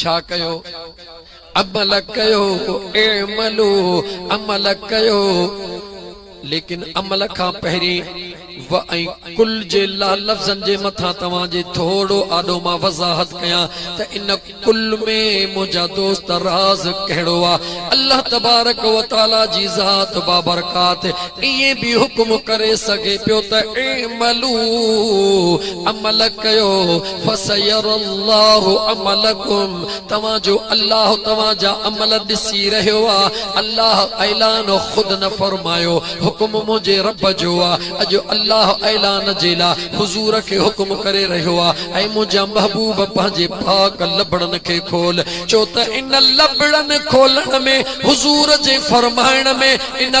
ڇا ڪيو عمل ڪيو اعملو عمل ڪيو ليڪن عمل کان پهرين و ۽ ڪل جي لا لفظن جي مٿان توهان جي ٿورو آڏو مان وضاحت ڪيان ته ان ڪل ۾ منهنجا دوست راز ڪهڙو آ الله تبارڪ و تعالي جي ذات بابرڪات ائين به حڪم ڪري سگهي پيو ته اعملو عمل ڪيو فسيري الله عملڪم توهان جو الله توهان جا عمل ڏسي رهيو آ الله اعلان خود نه فرمايو حڪم منهنجي رب جو آ اڄ الله اعلان جي لا حضور کي حڪم ڪري رهيو آ اي منهنجا محبوب پنهنجي پاڪ لبڙن کي کول ڇو ته ان لبڙن کولڻ ۾ حضور جي فرمائڻ ۾ ان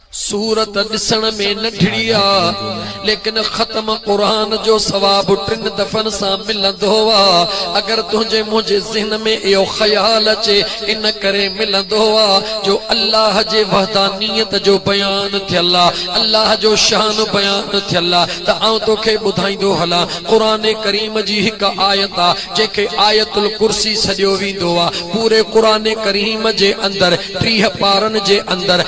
سورت ڏسڻ ۾ ننڍڙي آ ليڪن ختم قرآن جو ثواب ٽن دفعن سان ملندو آ اگر تنهنجي منهنجي ذهن ۾ اهو خيال اچي ان ڪري ملندو آ جو الله جي وحدانيت جو بيان ٿيل آ الله جو شان بيان ٿيل آ ته آئون توکي ٻڌائيندو هلان قرآن ڪريم جي هڪ آيت آ جنهن کي آيت الڪرسي سڏيو ويندو آ پوري قرآن ڪريم جي اندر ٽيهه پارن جي اندر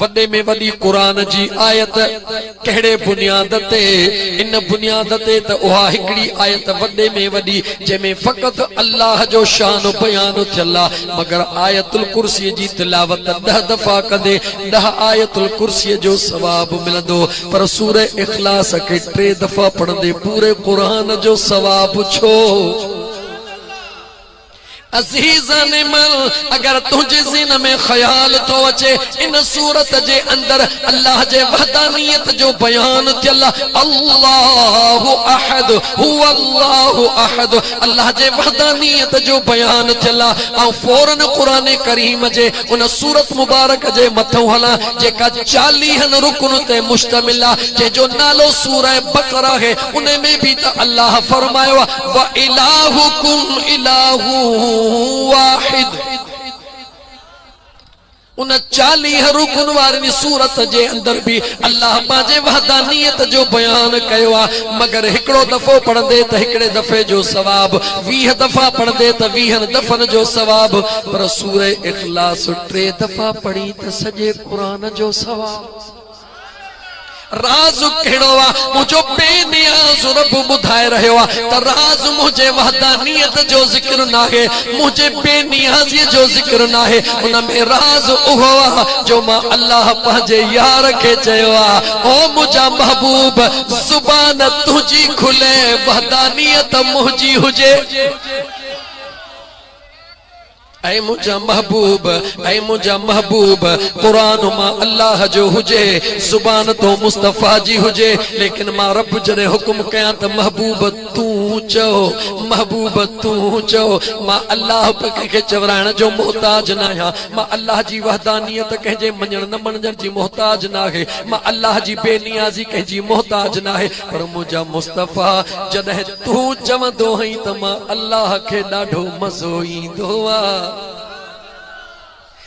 وڏي ۾ وڏي قرآن جي آيت ڪهڙي بنياد تي؟ ان بنياد تي ته اها هڪڙي آيت وڏي ۾ وڏي جنهن ۾ فقط الله جو شان بيان ٿيل آ مگر آيت الڪرسي جي تلاوت ڏهه دفعا ڪندي ڏهه آيت الڪرسي جو ثواب ملندو پر سورة اخلاص کي ٽي دفعا پڙهندي پوري قرآن جو ثواب ڇو عزيزان من! اگر تنهنجي ذهن ۾ خيال ٿو اچي ان سورت جي اندر الله جي وحدانيت جو بيان ٿيل الله احد هو الله احد الله جي وحدانيت جو بيان ٿيل آهي آئون فورن قرآن ڪريم جي ان سورت مبارڪ جي مٿئون هلان جيڪا چاليهن رڪن تي مشتمل آهي جنهن جو نالو سورة بقرة آهي انهي ۾ به ته الله فرمايو آهي وَإِلٰهُكُمْ إِلٰهٌ وَاحِدٌ ان چاليهه رڪن واري سورت جي اندر به الله پنهنجي وحدانيت جو بيان ڪيو آهي مگر هڪڙو دفعو پڙهندي ته هڪڙي دفعي جو ثواب ويهه دفعا پڙهندي ته ويهن دفعن جو ثواب پر سورة اخلاص ٽي دفعا پڙهين ته سڄي قرآن جو ثواب راز ڪهڙو آ؟ منهنجو بي نياز رب ٻڌائي رهيو آ ته راز منهنجي وحدانيت جو ذڪر ناهي، منهنجي بي نيازيء جو ذڪر ناهي، ان ۾ راز اهو آ جو مان الله پنهنجي يار کي چيو آ، او منهنجا محبوب! زبان تنهنجي کلي، وحدانيت منهنجي هجي. اي منهنجا محبوب اي منهنجا محبوب قرآن مان الله جو هجي زبان تون مصطفيٰ جي هجي ليڪن مان رب جڏهن حڪم ڪيان ته محبوب تون چئو محبوب تون چئو مان الله به ڪنهن کي چورائڻ جو محتاج ناهيان مان الله جي وحدانيت ڪنهن جي مڃڻ نه مڻجڻ جي محتاج ناهي مان الله جي بي نيازي ڪنهن جي محتاج ناهي پر منهنجا مصطفيٰ جڏهن تون چوندو هئين ته مان الله کي ڏاڍو مزو ايندو آ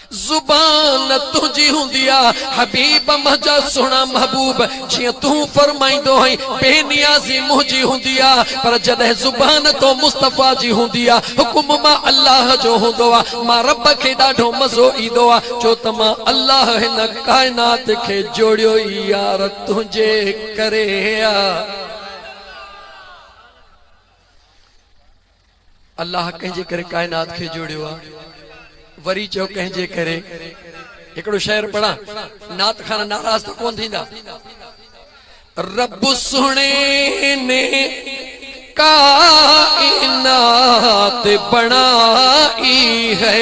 زبان تنهنجي هوندي آ حبيب منهنجا سهڻا محبوب جيئن تون فرمائيندو هئين بي نيازي منهنجي هوندي آ پر جڏهن زبان تو مصطفيٰ جي هوندي آ حڪم مان الله جو هوندو آ مان رب کي ڏاڍو مزو ايندو آ ڇو ته مان الله هن ڪائنات کي جوڙيو ئي يار تنهنجي ڪري آ. الله ڪنهن جي ڪري ڪائنات کي جوڙيو آ وري چئو ڪنهن جي ڪري هڪڙو شعر پڙهان نعت خان ناراض ته ڪون ٿيندا رب سهڻي ني کائنات بڻائي هي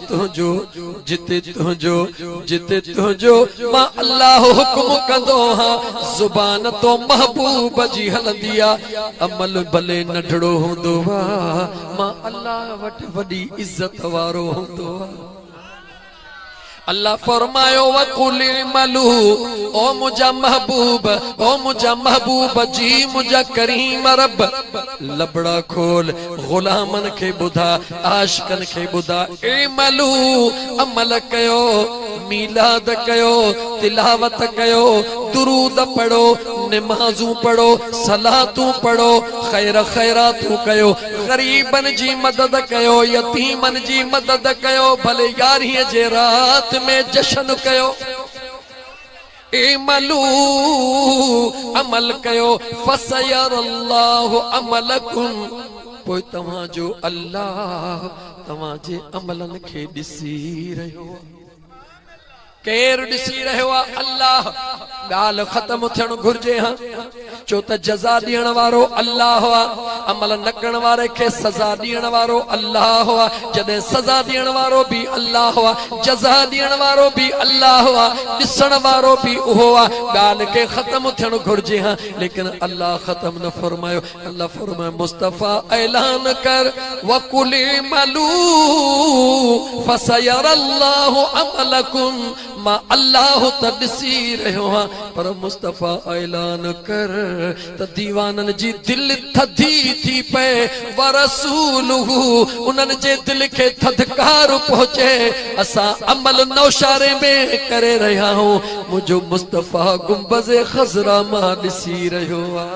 تنهنجو جتي تنهنجو جتي تنهنجو مان الله حڪم ڪندو آهان زبان تو محبوب جي هلندي آ عمل ڀلي ننڍڙو هوندو آ مان الله وٽ وڏي عزت وارو هوندو آ الله فرمايو وقل ملو او منجا محبوب او منجا محبوب جي منجا ڪريم رب لبڙا کول، غلامن کي ٻڌاء، عاشقن کي ٻڌاء، اعملوا، عمل ڪيو، ميلاد ڪيو، تلاوت ڪيو، درود پڙهو، نمازون پڙهو، صلاتون پڙهو، خير خيراتون ڪيو، غريبن جي مدد ڪيو، يتيمن جي مدد ڪيو، ڀلي يارهين جي رات ۾ جشن ڪيو. اعملو، عمل ڪيو، فسيري الله عملڪم، پوء توهان جو الله توهان جي عملن کي ڏسي رهيو آهي. ڪير ڏسي رهيو آهي؟ الله. ڳالهه ختم ٿيڻ گهرجي ها. ڇو ته جزا ڏيڻ وارو الله آ. عمل نه ڪرڻ واري کي سزا ڏيڻ وارو الله آ. جڏهن سزا ڏيڻ وارو به الله آ، جزا ڏيڻ وارو به الله آ، ڏسڻ وارو به اهو آ. ڳالهه کي ختم ٿيڻ گهرجي ها ليڪن الله ختم نه فرمايو. الله فرمايو مصطفيٰ اعلان ڪر وقل اعملوا فسيري الله عملڪم. مان الله ته ڏسي رهيو هان پر مصطفيٰ اعلان ڪر ته ديوانن جي دل ٿڌي ٿي پئي ورسوله انهن جي دل کي ٿڌڪار پهچي اسان عمل نوشهري ۾ ڪري رهيا هون منهنجو مصطفيٰ گنبذ خضرا مان ڏسي رهيو آ.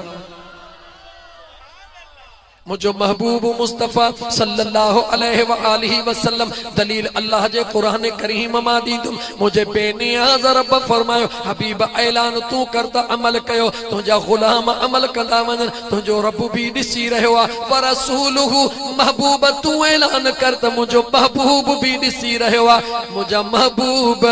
منهنجو محبوب مصطفيٰ صلّي اللّٰه عليه واٰله وسلّم دليل الله جي قرآن ڪريم مان ڏيندم، منهنجي بي نياز ربّ فرمايو، حبيب اعلان تون ڪر ته عمل ڪيو، تنهنجا غلام عمل ڪندا وڃن، تنهنجو ربّ به ڏسي رهيو آهي، ورسوله، محبوب تون اعلان ڪر ته منهنجو محبوب به ڏسي رهيو آهي، منهنجا محبوب.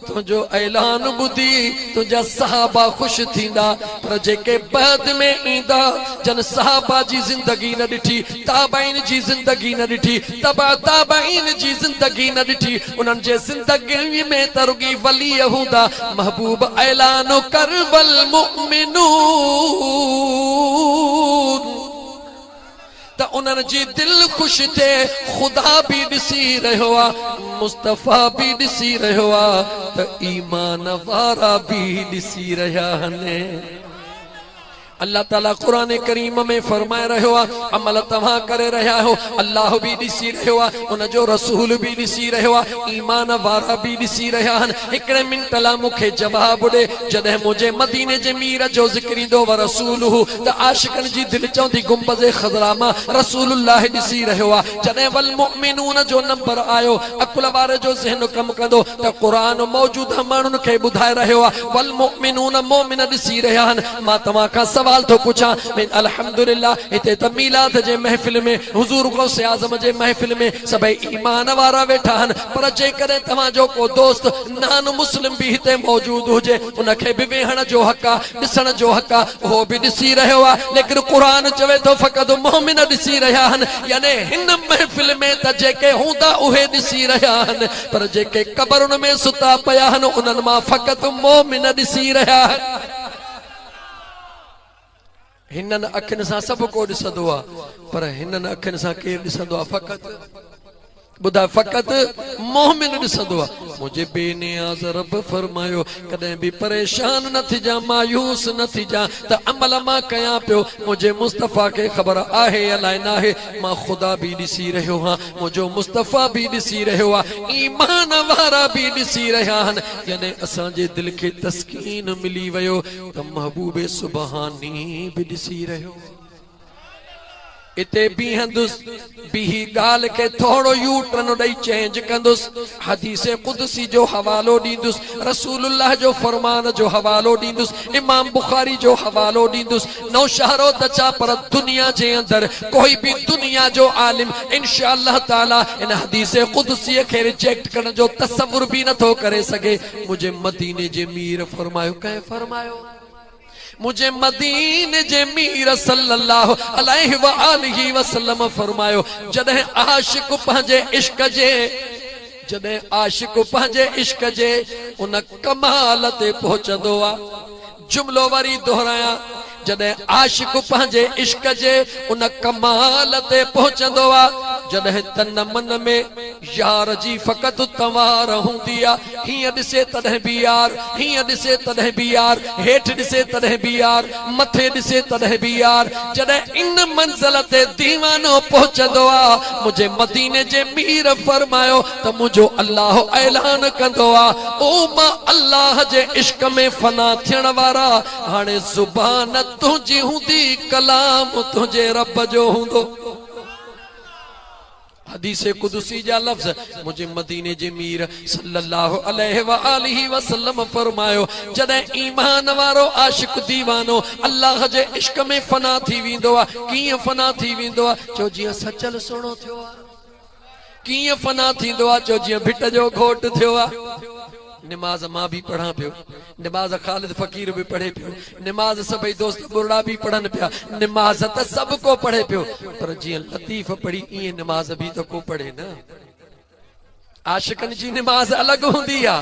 تنهنجو اعلان ٻڌي تنهنجا صحابه خوش ٿيندا، پر جيڪي بعد ۾ ايندا، جن صحابه جي زندگي نه ڏٺي، تابعين جي زندگي نه ڏٺي، تبع تابعين جي زندگي نه ڏٺي، انهن جي زندگين ۾ ته رڳي ولي هوندا، محبوب اعلان ڪر والمؤمنون. ته انهن جي دل خوش ٿئي، خدا به ڏسي رهيو آ، مصطفيٰ به ڏسي رهيو آ ته ايمان وارا به ڏسي رهيا هن. الله تعالي قرآن ڪريم ۾ فرمائي رهيو آ، عمل توهان ڪري رهيا آهيو، الله به ڏسي رهيو آ، ان جو رسول به ڏسي رهيو آ، ايمان وارا به ڏسي رهيا هن. هڪڙي منٽ لا مون کي جواب ڏي، جڏهن منهنجي مديني جي مير جو ذڪر ايندو ورسوله ته عاشقن جي دل چوندي گنبذ خضراء مان رسول الله ڏسي رهيو آ جڏهن والمؤمنون جو نمبر آيو عقل واري جو ذهن ڪم ڪندو ته قرآن موجوده ماڻهن کي ٻڌائي رهيو آ والمؤمنون مؤمن ڏسي رهيا آهن مان توهان کان سوال ٿو پڇان ۾ الحمدلله هتي ته ميلاد جي محفل ۾ حضور غوث اعظم جي محفل ۾ سڀئي ايمان وارا ويٺا آهن پر جيڪڏهن توهان جو ڪو دوست نان مسلم به هتي موجود هجي ان کي به ويهڻ جو حق آ ڏسڻ جو حق آ اهو به ڏسي رهيو آ ليڪن قرآن چوي ٿو فقط مؤمن ڏسي رهيا آهن يعني هن محفل ۾ ته جيڪي هوندا اهي ڏسي رهيا آهن پر جيڪي قبرن ۾ ستا پيا آهن انهن مان فقط مؤمن ڏسي رهيا آهن. هنن اکين سان سڀ ڪو ڏسندو آ پر هنن اکين سان ڪير ڏسندو آ فقط ٻڌاء فقط مؤمن ڏسندو آ منهنجي بي نياز رب فرمايو ڪڏهن به پريشان نه ٿجان مايوس نه ٿجان ته عمل مان ڪيان پيو منهنجي مصطفيٰ کي خبر آهي يا لائي ناهي مان خدا به ڏسي رهيو هان منهنجو مصطفيٰ به ڏسي رهيو آ ايمان وارا به ڏسي رهيا هن جڏهن اسان جي دل کي تسڪين ملي ويو ته محبوب سبحاني به ڏسي رهيو هو. اتي بيهندس، بيهي ڳالهه کي ٿورو يو ٽرن ڏئي چينج ڪندس، حديث قدسي جو حوالو ڏيندس، رسول الله جو فرمان جو حوالو ڏيندس، امام بخاري جو حوالو ڏيندس، نوشهرو ته ڇا پر دنيا جي اندر ڪوئي به دنيا جو عالم انشاء الله تعالي ان حديث قدسي کي ريجيڪٽ ڪرڻ جو تصور به نٿو ڪري سگهي. منهنجي مديني جي مير فرمايو ڪنهن فرمايو منهنجي مديني جي مير صلي الله عليه واله وسلم فرمايو جڏهن عاشق پنهنجي عشق جي جڏهن عاشق پنهنجي عشق جي ان ڪمال تي پهچندو آ جملو وري دهرايان، جڏهن عاشق پنهنجي عشق جي ان ڪمال تي پهچندو آ، جڏهن تن من ۾ يار جي فقط تنوار هوندي آ، هيئن ڏسي تڏهن به يار، هيئن ڏسي تڏهن به يار، هيٺ ڏسي تڏهن به يار، مٿي ڏسي تڏهن به يار، جڏهن ان منزل تي ديوانو پهچندو آ، منهنجي مديني جي مير فرمايو، ته منهنجو الله اعلان ڪندو آ او مان الله جي عشق ۾ فنا ٿيڻ وارا هاڻي زبان تنهنجي هوندي ڪلام تنهنجي رب جو هوندو حديث قدسي جا لفظ منهنجي مديني جي مير صلي الله عليه واٰله وسلم فرمايو جڏهن ايمان وارو عاشق ديوانو الله جي عشق ۾ فنا ٿي ويندو آ ڪيئن فنا ٿي ويندو آ چو جيئن سچل سهڻو ٿيو آ ڪيئن فنا ٿيندو آ جو جيئن ڀٽ جو گهوٽ ٿيو آ. نماز مان به پڙهان پيو. نماز خالد فقير به پڙهي پيو. نماز سڀئي دوست ٻرڙا به پڙهن پيا. نماز ته سڀ ڪو پڙهي پيو. پر جيئن لطيف پڙهي ايئن نماز به ته ڪو پڙهي نه. عاشقن جي نماز الڳ هوندي آ.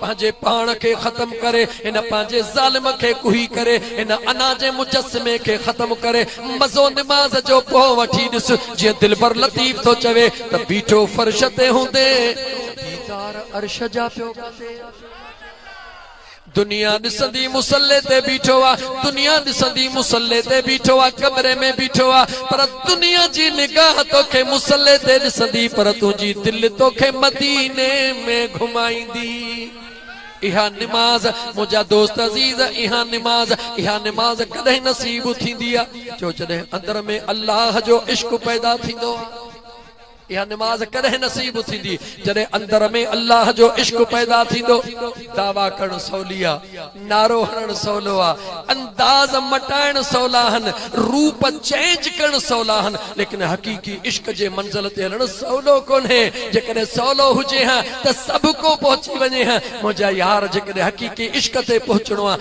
پنهنجي پاڻ کي ختم ڪري هن پنهنجي ظالم کي ڪوهي ڪري هن انا جي مجسمي کي ختم ڪري مزو نماز جو پوء وٺي ڏس جيئن دلبر لطيف ٿو چوي ته بيٺو فرش تي هوندي ديدار عرش جا پيو ڪندي. دنيا ڏسندي مصلي تي بيٺو آ دنيا ڏسندي مصلي تي بيٺو آ ڪمري ۾ بيٺو آ پر. دنيا جي نگاهه توکي مصلي تي ڏسندي پر تنهنجي دل توکي مديني ۾ گهمائيندي. اها نماز منهنجا دوست عزيز اها نماز اها نماز ڪڏهن نصيب ٿيندي آ جو جڏهن اندر ۾ الله جو عشق پيدا ٿيندو آ. اها نماز ڪڏهن نصيب ٿيندي جڏهن اندر ۾ الله جو عشق پيدا ٿيندو. دعويٰ ڪرڻ سولي آ، نعرو هڻڻ سولو آ، انداز مٽائڻ سولا آهن، روپ چينج ڪرڻ سولا آهن، ليڪن حقيقي عشق جي منزل تي هلڻ سولو ڪونهي. جيڪڏهن سولو هجي ها ته سڀڪو پهچي وڃي ها. منهنجا يار جيڪڏهن حقيقي عشق تي پهچڻو آ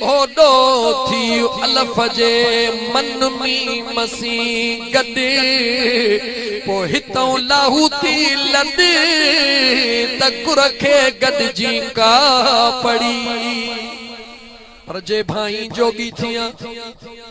اوڏو ٿي الف جي من ميم سين گڏ پوء هتئون لاهوتي لڏ ته ڪر کي گڏجي ڪا پڙي پر جي ڀائين جوڳي ٿيان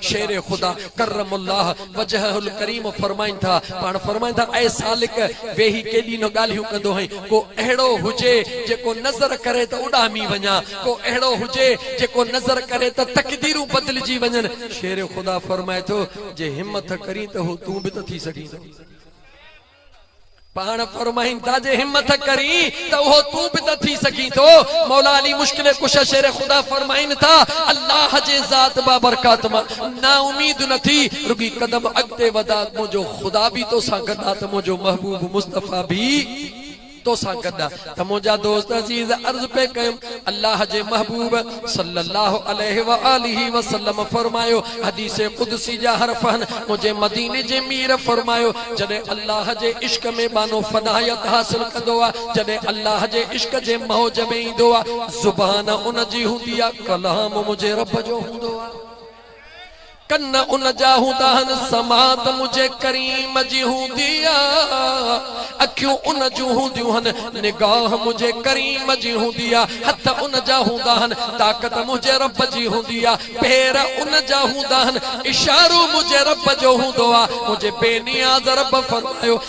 شير خدا ڪرم الله وجهه الڪريم فرمائن ٿا، پاڻ فرمائن ٿا، اي سالڪ! ويهي ڪيڏي نه ڳالهيون ڪندو هئين، ڪو اهڙو هجي جيڪو نظر ڪري ته اڏامي وڃان، ڪو اهڙو هجي جيڪو نظر ڪري ته تقديرون بدلجي وڃن. شير خدا فرمائي ٿو، جي همٿ ڪرين ته هو تون به ته ٿي سگهين ٿو. پاڻ فرمائين ٿا جي همٿ ڪرين ته اهو تون به ته ٿي سگهين ٿو. مولا علي مشڪل ڪشه شير خدا فرمائين ٿا الله جي ذات بابرڪات مان نااميد نه ٿي رڳي قدم اڳتي وڌاء منهنجو خدا به توسان گڏ آ ته منهنجو محبوب مصطفيٰ به تو سان گڏ ته منهنجا دوست عزيز عرض پئي ڪيم الله جي محبوب صلّي الله عليه واٰله وسلّم فرمايو حديث قدسي جا حرف آهن منهنجي مديني جي مير فرمايو جڏهن الله جي عشق ۾ ٻانهو فنايت حاصل ڪندو آهي جڏهن الله جي عشق جي موج ۾ ايندو آهي زبان ان جي هوندي آهي ڪلام منهنجي رب جو هوندو آهي. ڪن ان جا هوندا هن سماعت منهنجي ڪريم جي هوندي آ اکيون ان جون هونديون هن نگاهه منهنجي ڪريم جي هوندي آ هٿ ان جا هوندا هن طاقت منهنجي رب جي هوندي آ پير ان جا هوندا هن اشارو منهنجي رب جو هوندو آ منهنجي بي نياز رب فرمايو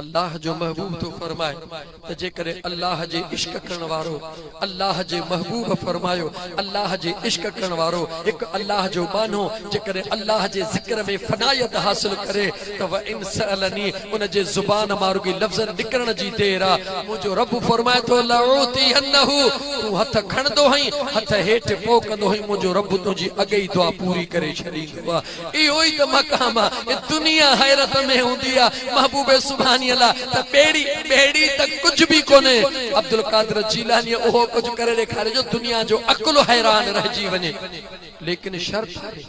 الله جو محبوب ٿو فرمائي ته جيڪڏهن الله جي عشق ڪرڻ وارو الله جي محبوب فرمايو الله جي عشق ڪرڻ وارو هڪ الله جو ٻانهو جيڪڏهن الله جي ذڪر ۾ فنائيت حاصل ڪري ته وئن سئلني ان جي زبان مان رڳي لفظ نڪرڻ جي دير آ منهنجو رب فرمائي ٿو لاعوتينه تون هٿ کڻندو هئين هٿ هيٺ پوء ڪندو هئين منهنجو رب تنهنجي اڳئي دعا پوري ڪري ڇڏيندو اهو ئي ته مقام آ اي دنيا حيرت ۾ هوندي آ محبوب سبحانيء لا ته ٻيڙي ٻيڙي ته ڪجهه به ڪونهي عبدالقادر جيلانيء اهو ڪجهه ڪري ڏيکاريو جو دنيا جو عقل حيران رهجي وڃي ليڪن شرط آهي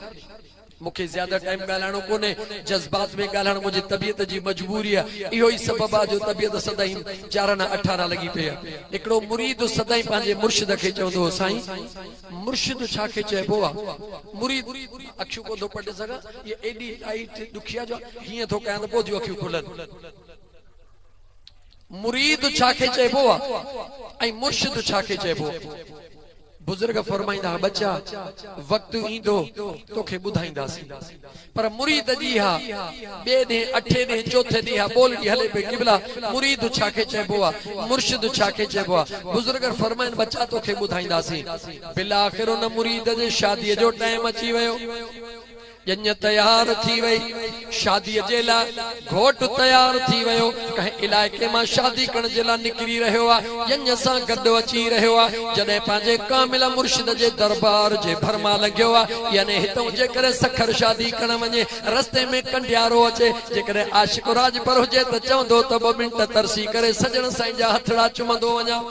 مون کي زياده ٽائيم ڳالهائڻو ڪونهي جذبات ۾ ڳالهائڻ منهنجي طبيعت جي مجبوري آ اهو ئي سبب آ جو طبيعت سدائين جارنا اٺارا لڳي پئي آ هڪڙو مريد سدائين پنهنجي مرشد کي چوندو هو سائين مرشد ڇا کي چئبو آ مريد اکيون ڪون ٿو پٽي سگهان اهي ايڏي لائيٽ ڏکيا جو هيئن ٿو ڪيان ته پوء ٿيون اکيون کلن مريد ڇا کي چئبو آ ۽ مرشد ڇا کي چئبو آ بزرگ فرمائيندا ها ٻچا وقت ايندو توکي ٻڌائينداسين پر مريد جي اها ٻئي ڏينهن، اٺين ڏينهن، چوٿين ڏينهن اها ٻولڙي هلي پئي، قبلا! مريد ڇا کي چئبو آ؟ مرشد ڇا کي چئبو آ؟ بزرگن فرمائن ٻچا توکي ٻڌائينداسين. بالاخر ان مريد جي شاديء جو ٽائيم اچي ويو. ڄڃ تيار ٿي وئي شاديء جي لاء. گهوٽ تيار ٿي ويو، ڪنهن علائقي مان شادي ڪرڻ جي لاء نڪري رهيو آ، ڄڃ سان گڏ اچي رهيو آ، جڏهن پنهنجي ڪامل مرشد جي دربار جي ڀر مان لنگهيو آ، يعني هتئون جيڪڏهن سکر شادي ڪرڻ وڃي، رستي ۾ ڪنڊيارو اچي، جيڪڏهن عاشق راڄپر هجي ته چوندو ته ٻه منٽ ترسي ڪري سڄڻ سائين جا هٿڙا چمندو وڃان.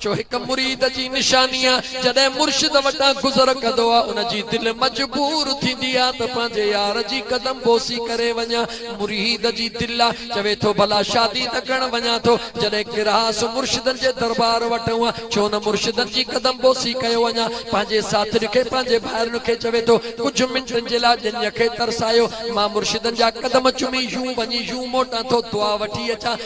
جو هڪ مريد جي نشاني آ جڏهن مرشد وٽان گذر ڪندو آ ان جي دل مجبور ٿيندي آ ته پنهنجي يار جي قدم بوسي ڪري وڃان مريد جي دل آ چوي ٿو ڀلا شادي ته ڪرڻ وڃان ٿو جڏهن ڪرهاس مرشدن جي دربار وٽ هئا ڇو نه مرشدن جي قدم بوسي ڪيو وڃان پنهنجي ساٿڙي کي پنهنجي ڀائرن کي چوي ٿو ڪجهه منٽن جي لاء ڄڃ کي ترسايو مان مرشدن جا قدم چمي يون وڃي يون موٽان ٿو دعا وٺي اچان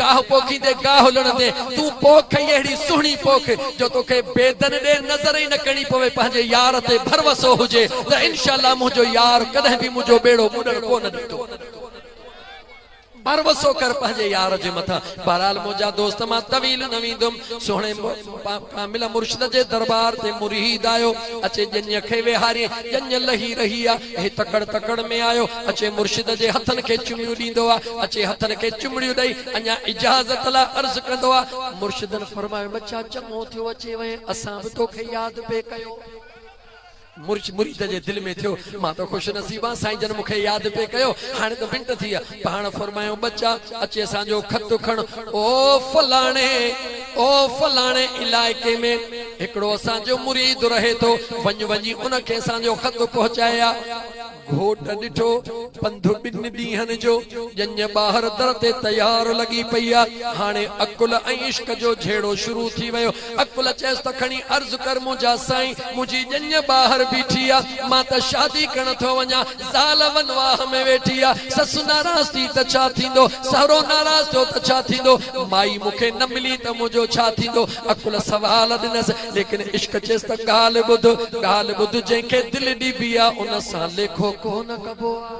گاهه پوکيندي گاهه لڻندي تون پوک ئي اهڙي سهڻي پوک جو توکي بيدن ڏي نظر ئي نه ڪرڻي پوي پنهنجي يار تي ڀروسو هجي ته انشاء الله منهنجو يار ڪڏهن به منهنجو ٻيڙو ٻڏڻ ڪونه ڏيندو ڀروسو ڪر پنهنجي يار جي مٿان بهرحال منهنجا دوست مان طويل نه ويندم سهڻي ڪامل مرشد جي درٻار تي مريد آيو، اچي ڄڃ کي ويهارين، ڄڃ لهي رهي آ، هي تڪڙ تڪڙ ۾ آيو، اچي مرشد جي هٿن کي چمڙيون ڏيندو آ، اچي هٿن کي چمڙيون ڏئي اڃا اجازت لاء عرض ڪندو آ، مرشدن فرمايو ٻچا چڱو ٿيو اچي وئين، اسان به توکي ياد پئي ڪيو. مرچ مريد جي دل ۾ ٿيو، مان ته خوش نصيب آهيان، سائين جن مون کي ياد پئي ڪيو، هاڻي ته منٽ ٿي ويا. پاڻ فرمايائون، ٻچا! اچي اسان جو خط کڻ، او فلاڻي، او فلاڻي علائقي ۾ هڪڙو اسان جو مريد رهي ٿو، وڃ وڃي ان کي اسان جو خط پهچائي آ. گهوٽ ڏٺو، پنڌ ٻن ڏينهن جو، ڄڃ ٻاهر در تي تيار لڳي پئي آ، هاڻي عقل ۽ عشق جو جهيڙو شروع ٿي ويو. عقل چيس ته کڻي عرض ڪر منهنجا سائين، منهنجي ڄڃ ٻاهر بيٺي آ، مان ته شادي ڪرڻ ٿو وڃان، زال ونواهه ۾ ويٺي آ، سس ناراض ٿي ته ڇا ٿيندو، سهرو ناراض ٿيو ته ڇا ٿيندو، مائي مون کي نه ملي ته منهنجو ڇا ٿيندو؟ عقل سوال ڏنس. ليڪن عشق چيس ته ڳالهه ٻڌ، ڳالهه ٻڌ جنهن کي دل ڏبي آ ان سان ليکو ڪونه ڪبو آ.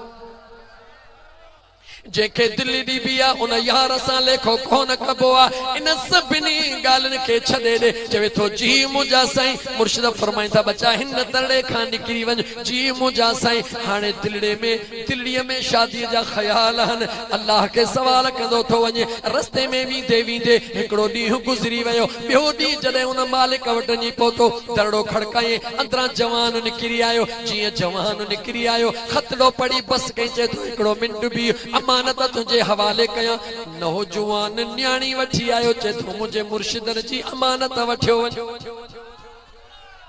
جنهن کي دل ڏبي آ ان يار سان ليکو ڪونه ڪبو آ. ان سڀني ڳالهين کي ڇڏي ڏي. چوي ٿو جي منهنجا سائين مرشد فرمائين ٿا ٻچا هن ترڙي کان نڪري وڃ جي منهنجا سائين هاڻي دلڙي ۾ دليء ۾ شاديء جا خيال هن الله کي سوال ڪندو ٿو وڃي. رستي ۾ ويندي ويندي هڪڙو ڏينهن گذري ويو. ٻيو ڏينهن جڏهن ان مالڪ وٽ وڃي پهتو، درڙو کڙڪايائين. اندران جوان نڪري آيو. جيئن جوان نڪري آيو، خطڙو پڙهي بس ڪئي، چئي ٿو، هڪڙو منٽ بيهه، امانت تنهنجي حوالي ڪيان. نوجوان نياڻي وٺي آيو، چئي ٿو، منهنجي مرشدن جي امانت وٺيو وڃ.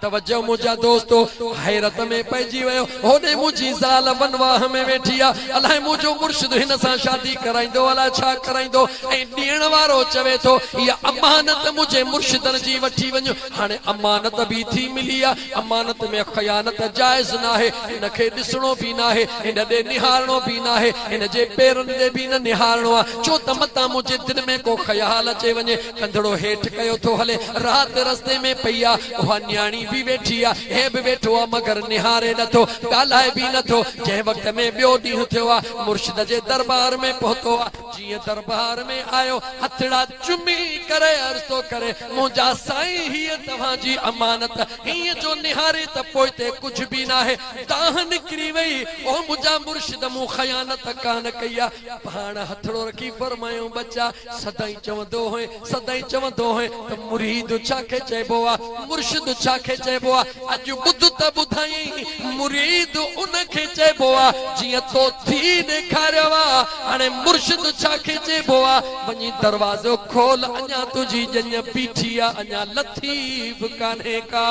توجه منهنجا دوستو! حيرت ۾ پئجي ويو. هوڏي منهنجي زال ونواهه ۾ ويٺي آ. الائي منهنجو مرشد هن سان شادي ڪرائيندو الائي ڇا ڪرائيندو؟ ۽ ڏيڻ وارو چوي ٿو، اها امانت منهنجي مرشدن جي وٺي وڃ. هاڻي امانت به ٿي ملي آ. امانت ۾ خيانت جائز ناهي. هن کي ڏسڻو به ناهي. هن ڏي نهارڻو به ناهي. هن جي پيرن ڏي به نه نهارڻو آ. ڇو ته متان منهنجي دل ۾ ڪو خيال اچي وڃي. ڪنڌڙو هيٺ ڪيو ٿو هلي. رات رستي ۾ پئي آ. اها نياڻي به ويٺي آ. هي به ويٺو آ مگر نهاري نه ٿو. ڳالهائي به نه ٿو. جنهن وقت ۾ ٻيو ڏينهن ٿيو آ. مرشد جي دربار ۾ پهتو آ. جيئن دربار ۾ آيو هٿڙا چمي ڪري عرض ٿو ڪري، منهنجا سائين هيء توهان جي امانت هينئن جو نهاري ته پوئتي ڪجهه به ناهي. دانهن نڪري وئي. او منهنجا مرشد مون خيانت ڪانه ڪئي آ. پيا پاڻ هٿڙو رکي فرمايائون ٻچا سدائين چوندو هئين سدائين چوندو هئين ته مريد ڇا کي چئبو آ مرشد ڇا کي چئبو آ اڄ ٻڌ ته ٻڌائين مريد ان کي چئبو آ جيئن تو ٿي ڏيکاريو آ هاڻي مرشد ڇا کي چئبو آ وڃي دروازو کول اڃا تنهنجي ڄڃ بيٺي آ اڃا لٿي به ڪانهي ڪا.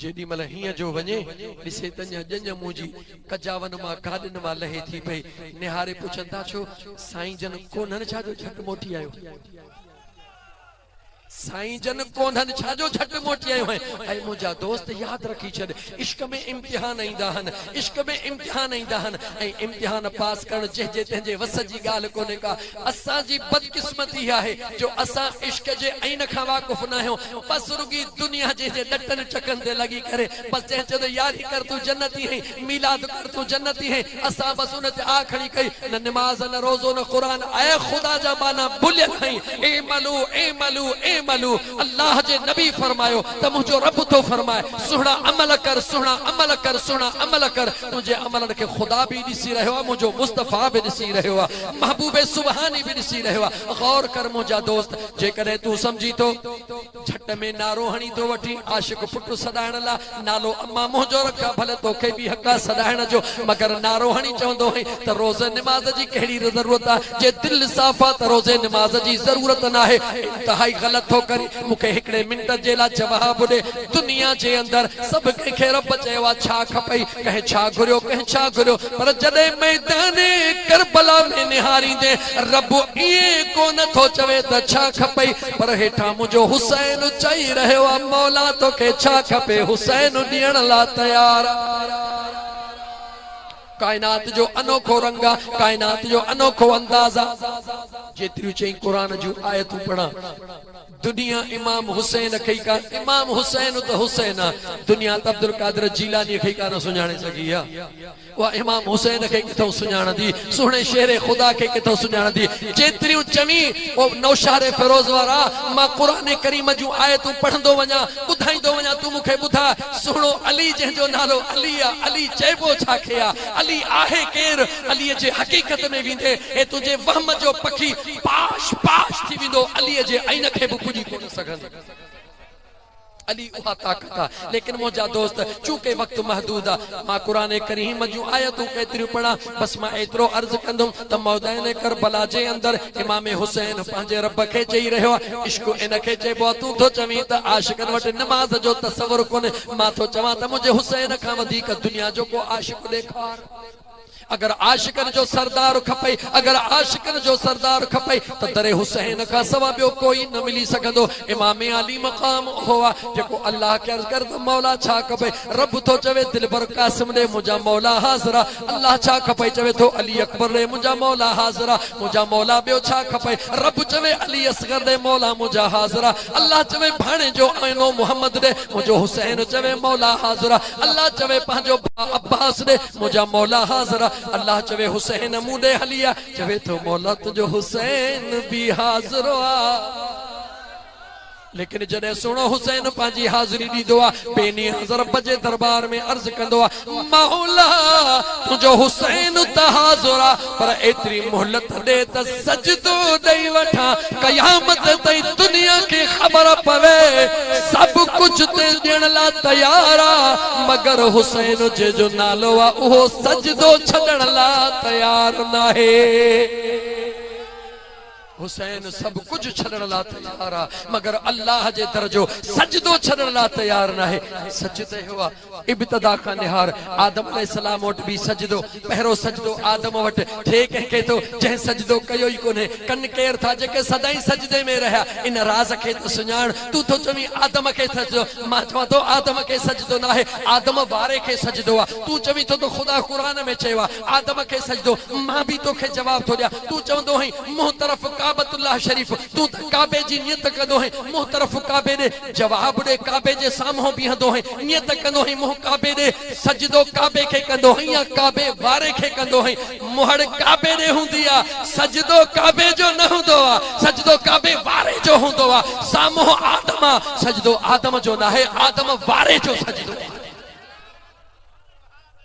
جيڏي مھل ھينء جو وڃي، ڏسي ته اڃا ڄڃ منھن جي ڪجاون مان گاڏن مان لھي ٿي پئي. نھاري پڇن ٿا ڇو؟ سائين جن ڪونھن ڇا جو جھٽ موٽي آيو ھئين؟ سائين جن ڪونھن ڇا جو جھٽ موٽي آيو ھئين؟ اي منھنجا دوست ياد رکي ڇڏ، عشق ۾ امتحان ايندا ھن، عشق ۾ امتحان ايندا ھن ۽ امتحان پاس ڪرڻ جنھن جي تنھن جي وس جي ڳالھه ڪونھي ڪا، اسان جي بدقسمتي اها آهي جو اسان عشق جي عين کان واقف ناهيون بس رڳي دنيا جي جي ڏٽن چڪن تي لڳي ڪري بس جنهن چيو ته ياري ڪر تون جنتي هين ميلاد ڪر تون جنتي هين اسان بس ان تي آه کڻي ڪئي نه نماز نه روزو نه قرآن اي خدا جا ٻانها ڀليل آهين اعملو اعملو اعملو الله جي نبي فرمايو ته منهنجو رب ٿو فرمائي سهڻا عمل ڪر سهڻا عمل ڪر سهڻا عمل ڪر تنهنجي عملن کي خدا به ڏسي رهيو آهي، منهنجو مصطفيٰ به ڏسي رهيو آهي، محبوب سبحاني به ڏسي رهيو آهي. غور ڪر منهنجا دوست، جيڪڏهن تون سمجهين ٿو. جهٽ ۾ نعرو هڻي ٿو وٺين، عاشق پٽ سڏائڻ لاء نالو امان منهنجو رک ها، ڀلي توکي به حق آهي سڏائڻ جو، مگر نعرو هڻي چوندو هئين ته روزي نماز جي ڪهڙي ضرورت آهي، جي دل صاف آهي ته روزي نماز جي ضرورت ناهي، انتهائي غلط ٿو ڪرين. مون کي هڪڙي منٽ جي لاء جواب ڏي. دنيا جي اندر سڀ ڪنهن کي رب چيو آهي، ڇا کپئي؟ ڪنهن ڇا گهريو، ڪنهن ڇا گهريو، پر جڏهن ميدان ڪربلا ۾ نهاريندي رب ائين ڪو نه ٿو چوي ته ڇا کپئي، پر هيٺان منهنجو حسين چئي رهيو آهي، مولا توکي ڇا کپي، حسين ڏيڻ لاء تيار آهي. ڪائنات جو انوکو رنگ آ، ڪائنات جو انوکو انداز آ. جيتريون چئين قرآن جون آيتون پڙهان. دنيا امام حسين کي ئي ڪا امام حسين ته حسين آ، دنيا ته عبدالقادر جيلانيء کي ئي ڪانه سڃاڻي سگهي آ. اها امام حسين کي ڪٿئون سڃاڻندي، سهڻي شير خدا کي ڪٿئون سڃاڻندي. جيتريون چوين او نوشهري فيروز وارا، مان قرآن ڪريم جون آيتون پڙهندو وڃان، ٻڌائيندو وڃان، تون مون کي ٻڌاء، سهڻو علي جنهن جو نالو علي آ، علي چئبو ڇا کي آ، علي آهي ڪير، علي جي حقيقت ۾ ويندي هي تنهنجي وهم جو پکي پاش پاش ٿي ويندو، علي جي عين کي به پڄي ڪونه سگهندي. علي اها طاقت آ. ليڪن منهنجا دوست چونڪه وقت محدود آ مان قرآن ڪريم جون آيتون ڪيتريون پڙهان بس مان ايترو عرض ڪندم ته مؤدين ڪربلا جي اندر امام حسين پنهنجي رب کي چئي رهيو آهي عشق ان کي چئبو آهي تون ٿو چوين ته عاشقن وٽ نماز جو تصور ڪونهي مان ٿو چوان ته منهنجي حسين کان وڌيڪ دنيا جو ڪو عاشق ڏيکار اگر عاشقن جو سردار کپئي اگر عاشقن جو سردار کپئي ته در حسين کان سوا ٻيو ڪوئي نه ملي سگهندو امام علي مقام اهو آهي جيڪو الله کي عرض ڪري ته مولا ڇا کپئي رب ٿو چوي دلبر قاسم ڏي منهنجا مولا حاضر آهي الله ڇا کپئي؟ چوي ٿو علي اڪبر ڏي منهنجا مولا حاضر آ، منهنجا مولا ٻيو ڇا کپئي؟ رب چوي علي اصغر ڏي مولا منهنجا حاضر آ، الله چوي ڀاڻيجو آئينو محمد ڏي منهنجو حسين چوي مولا حاضر آ، الله چوي پنهنجو ڀاء عباس ڏي منهنجا مولا حاضر آ، الله چوي حسين مون ڏي هلي آ، چوي ٿو مولا تنهنجو حسين به حاضر آ. ليڪن جڏهن سهڻو حسين پنهنجي حاضري ڏيندو آ، بي نياز رب جي دربار ۾ عرض ڪندو آ، مولا! تنهنجو حسين ته حاضر آ، پر ايتري مهلت ڏي ته سجدو ڏئي وٺان، قيامت تائين دنيا کي خبر پوي، سڀ ڪجهه تي ڏيڻ لاء تيار آ، مگر حسين جنهن جو نالو آ، اهو سجدو ڇڏڻ لاء تيار ناهي. حسين سڀ ڪجهه ڇڏڻ لا تيار آ مگر الله جي در جو سجدو ڇڏڻ لا تيار ناهي سجدي هو آ ابتدا کان نهار آدم عليه السلام وٽ به سجدو پهرو سجدو آدم وٽ ٿئي ڪنهن کي ٿو جنهن سجدو ڪيو ئي ڪونهي ڪن ڪير ٿا جيڪي سدائين سجدي ۾ رهيا ان راز کي ته سڃاڻ تون ٿو چوين آدم کي سجدو مان چوان ٿو آدم کي سجدو ناهي آدم واري کي سجدو آ تون چوين ٿو ته خدا قرآن ۾ چيو آ آدم کي سجدو، مان به توکي جواب ٿو ڏيان، تون چوندو هئين، منهن طرف ڪعبت الله شريف، تون ته ڪعبي جي نيت ڪندو هئين، منهن طرف ڪعبي ڏي، جواب ڏي، ڪعبي جي سامهون بيهندو هئين، نيت ڪندو هئين، منهن ڪعبي ڏي، سجدو ڪعبي کي ڪندو هئين يا ڪعبي واري کي ڪندو هئين، مهڙ ڪعبي ڏي هوندي آ، سجدو ڪعبي جو نه هوندو آ، سجدو ڪعبي واري جو هوندو آ، سامهون آدم آ، سجدو آدم جو ناهي، آدم واري جو سجدو آ.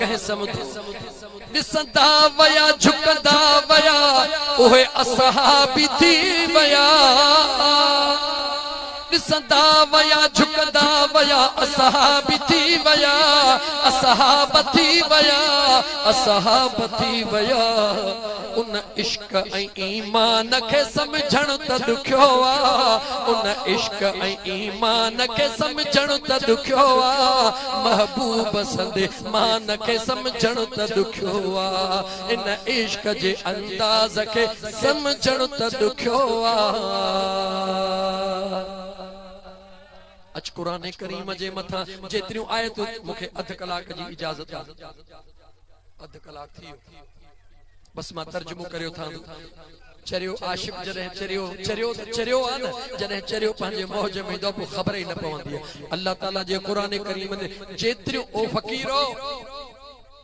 ڪنهن سمڌو. ڏسندا ويا جهڪندا ويا اهي اصحابي ٿي ويا ڏسندا ويا جهڪندا ويا اصحابي ٿي ويا اصحاب ٿي ويا اصحاب ٿي ويا ان عشق ۽ ايمان کي سمجهڻ ته ڏکيو آ ان عشق ۽ ايمان کي سمجهڻ ته ڏکيو آ محبوب سندي مان کي سمجهڻ ته ڏکيو آ ان عشق جي انداز کي سمجهڻ ته ڏکيو آ اچ قرآن ڪريم جي مٿان جيتريون آيتون مون کي اڌ ڪلاڪ جي اجازت آ اڌ ڪلاڪ ٿي ويو بس مان ترجمو ڪري اٿان ٿو. چريو عاشق جڏهن چريو چريو ته چريو آهي نه جڏهن چريو پنهنجي موج ۾ ايندو آهي پوء خبر ئي نه پوندي آهي الله تعالي جي قرآن ڪريم تي جيتريون او فقيرو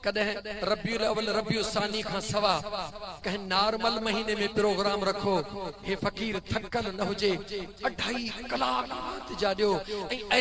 ڪڏهن ربيع الاول ربيع الثاني کان سوا ڪنهن نارمل مهيني ۾ پروگرام رکو هي فقير ٿڪل نه هجي اڍائي ڪلاڪ رات جا ڏيو ۽